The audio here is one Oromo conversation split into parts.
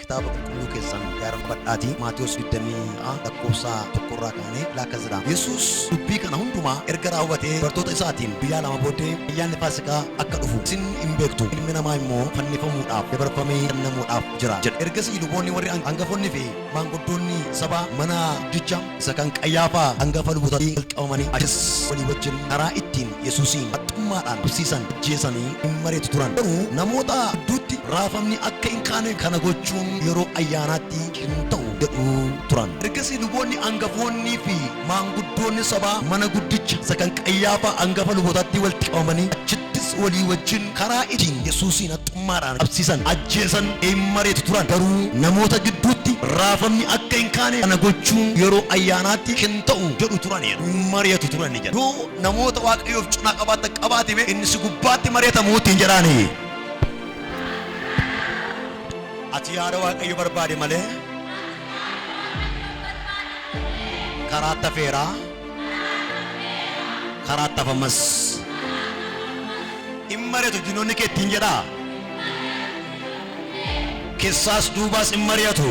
kitaaba qulqulluu keessan gaarfadhaatii Maatiyos 26 lakkoofsa tokko irraa kaanee laakkas jedha. Yesuus dubbii kana hundumaa erga raawwatee bartoota isaatiin guyyaa lama booddee ayyaanni Faasikaa akka dhufu isin hin beektu ilmi namaa immoo fannifamuudhaaf dabarfamee kennamuudhaaf jira jedhe. Ergasii luboonni warri hangafoonni fi Maanguddoonni sabaa mana guddicha isa kan Qayyaafaa hangafa lubootaatti wal qabamanii achis walii wajjin karaa ittiin Yesuusiin haxxummaadhaan qabsiisan ajjeesanii hin mari'atu turan. Garuu namoota gidduutti raafamni akka hin kaane kana gochuun yeroo ayyaanaatti hin ta'u jedhu turan. Ergasii luboonni angafoonnii fi Maanguddoonni sabaa mana guddicha isa kan Qayyaafaa angafa lubootaattii walitti qabamanii achittis walii wajjin karaa ittiin Yesuusiin haxxummaadhaan qabsiisan, ajjeesan, in mari'atu turan. Garuu namoota gidduutti raafamni akka hin kaane kana gochuun yeroo ayyaanaatti hin ta'u jedhu turaniiru. In mari'atu turani jedha. Yoo namoota Waaqayyoof cinaa qabaattan qabaati mee inni si gubbaatti mari'atamu ittiin jedhaani. Ati yaada Waaqayyo barbaade malee. Karaatti hafeera. Karaatti hafa ammas. In mari'atu diinonni kee ittiin jedhaa. Keessaas duubaas in mari'atu.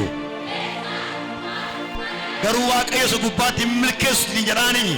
Garuu Waaqayyo isa gubbaatti hin milkeessu ittiin jedhaanii.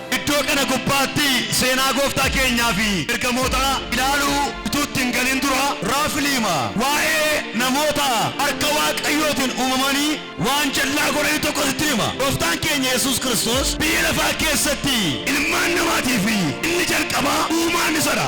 Iddoo kana gubbaatti seenaa Gooftaa keenyaa fi ergamootaa ilaaluu utuu itti hin galin dura, raafliima waa'ee namoota harka Waaqayyootiin uumamanii waan jal'aa godhanii tokko sittin hima. Gooftaan keenya Yesuus Kiristoos biyya lafaa keessatti ilmaan namaatii fi inni jalqabaa uumaan isa dha.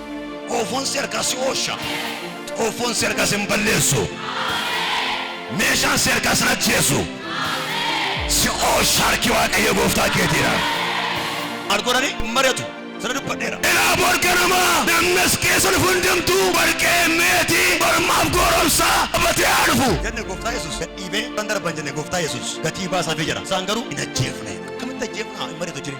Xoofoon si harkaa si oolcha. Xoofoon si harkaa sin balleessu. Meeshaan si harkaa sin ajjeesu. Si oolcha harki Waaqayyo gooftaa keetiidha. Maal godhanii hin mari'atu. Sana dubbadheera. Ilaa bor ganama namni as keessa dhufu hundumtuu warqee, meetii, mormaaf gooromsaa qabatee haa dhufu. Jenne gooftaa Yesuus gad dhiibee kan darban jenne gooftaa Yesuus gatii baasaafii jira. Isaan garuu hin ajjeefne. Akkamitti ajjeefna hin mari'atu jire.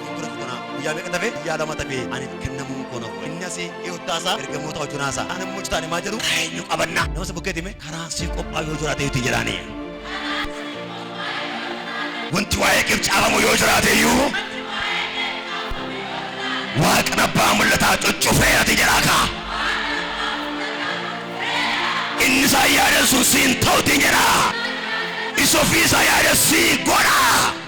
dura fudhana guyyaa meeqa tafe guyyaa lama tafe ani kennamuun koo nafu inni asii dhiyottaasaa ergamoota hojjunaasaa ana immoo jitaani maa jedhu karaa eenyu qabanna nama si bukkeeti mee karaan sii qophaa yoo jiraate yuuti jedhaani wanti waa'ee keef caafamu yoo jiraate iyyuu waaqni abbaa mul'ataa cuccufee ati jedhaa kaa inni isaa yaadessu siin ta'uti jedhaa isa ofii isaa yaadessii godhaa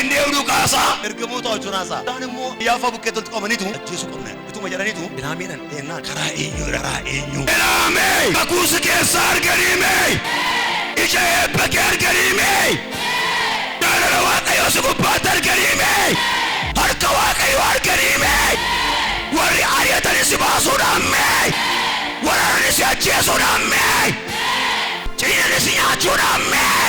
Inni eenyu nu kaasa? Ergamoota hojjunaa isaa. Isaan immoo biyya afaa bukkee toltu qabaniitu ajjeesuu qabna. Ituma jedhaniitu Belaamiidhaan dheennaan karaa eenyu irra karaa eenyu. Belaamii! Kakuu si keessaa arganii mee? Ija eebba kee arganii mee? Jaalala Waaqayyoo si gubbaatti arganii mee? Harka Waaqayyoo arganii mee? Warri ari'atanii si baasuudhaan mee? Waraananii si ajjeesuudhaan mee? Ciinanii si nyaachuudhaan mee?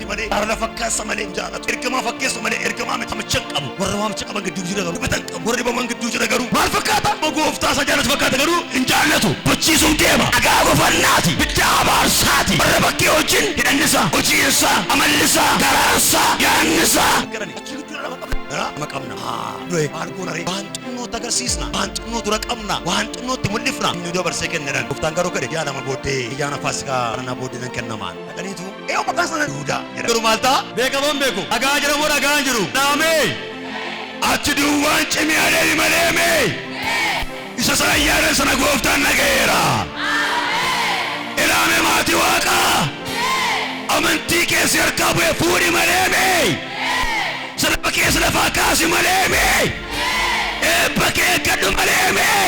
fakkaatti malee jaalala fakkaassa malee hin jaalatu. Ergamaa fakkeessa malee ergamaa miti waamicha hin qabu. Warra waamicha qaban gidduu jira garuu hubatan qabu. Warra dhibaman gidduu jira garuu maal fakkaata? Amma gooftaa isa jaalatu fakkaata garuu hin jaallatu. Bochiisuuf deema. Dhagaa gofannaati. Biddaa abaarsaati. Warra bakkee wajjin hidhanni isaa, hojiin isaa, amalli isaa, garaan isaa, yaadni isaa. Garani achi gidduu dhala qabna. Dhala ama qabna. Haa. Du'e maal goona ree? Waan xinnootti agarsiisna. Waan xinnoo dura qabna. Waan xinnootti mul'ifna. Inni dabarsee kenneran. Gooftaan garuu kadhe yaa lama booddee ayyaana faasikaa kana booddee nan kennamaan. Dhaqaniitu eeyyoo maqaa sana Yihudaa jedha. Garuu maal ta'a? Beekamoon beeku. Dhagaa jira moo dhagaa hin jiru? Dhaamee! Achi duwwaan cimee adeemi malee mee! Isa sana ayyaana sana gooftaan dhaga'eera. Ilaame maatii waaqaa! Amantii kee si harkaa bu'e fuudhi malee mee! Salaba kee si lafaa kaasi malee mee! Eebba kee eeggadhu malee mee!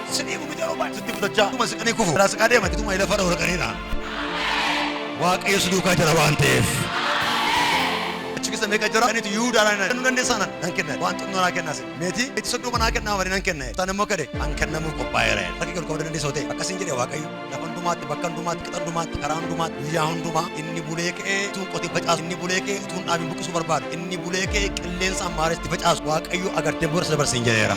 Sidii gumicha roobaan sitti kutachaa utuma siqanii kufu irraa siqaa deeman utuma lafa irra horaqaniidha. Waaqayyo si duukaa jira waan ta'eef. Achi keessa meeqa jira? Ani itti Yihudaa dhaan kennuu dandeessaa nan nan kenna. Waan xinnoo naa kennaas. Meetii itti soddoma naa kennaa malee nan kenna. Isaan immoo kade an kennamuuf qophaa'eera. Rakki ol qabuu dandeessaa ta'e akkasiin jedhe Waaqayyo. Lafa hundumaatti, bakka hundumaatti, qixa hundumaatti, karaa hundumaatti, guyyaa hundumaa inni bulee kee utuu qotee facaasu, inni bulee kee utuu hin dhaabin buqqisuu barbaadu, inni bulee kee qilleensa ammaaree itti facaasu, Waaqayyo agarteen booda si dabarsa hin jedheera.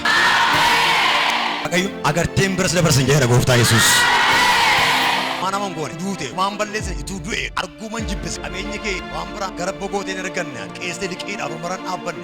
Waaqayyo agarteen bira si dabarsa hin jedheera gooftaa Yesuus. Waan hamaan goone duute waan balleesse ituu du'e arguu man jibbise qabeenya kee waan biraa gara bogooteen erganne qeessee liqiidhaaf marmaran dhaabbanne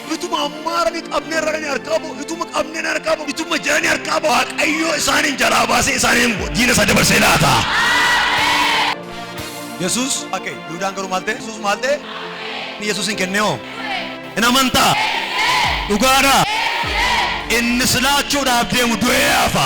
Ituma ammaara ni qabne irra ni harkaa ba'u, ituma qabne ni harkaa ba'u, ituma jira ni harkaa ba'u. Waaqayyo isaaniin jalaa baasee isaaniin diina isaa dabarsee laata. Yesuus ake Yihuudaan garuu maal ta'e? Yesuus maal ta'e? Yesuusin kennee hoo? Hin amantaa? Dhugaadhaa? Inni si laachuudhaaf deemu du'ee hafa.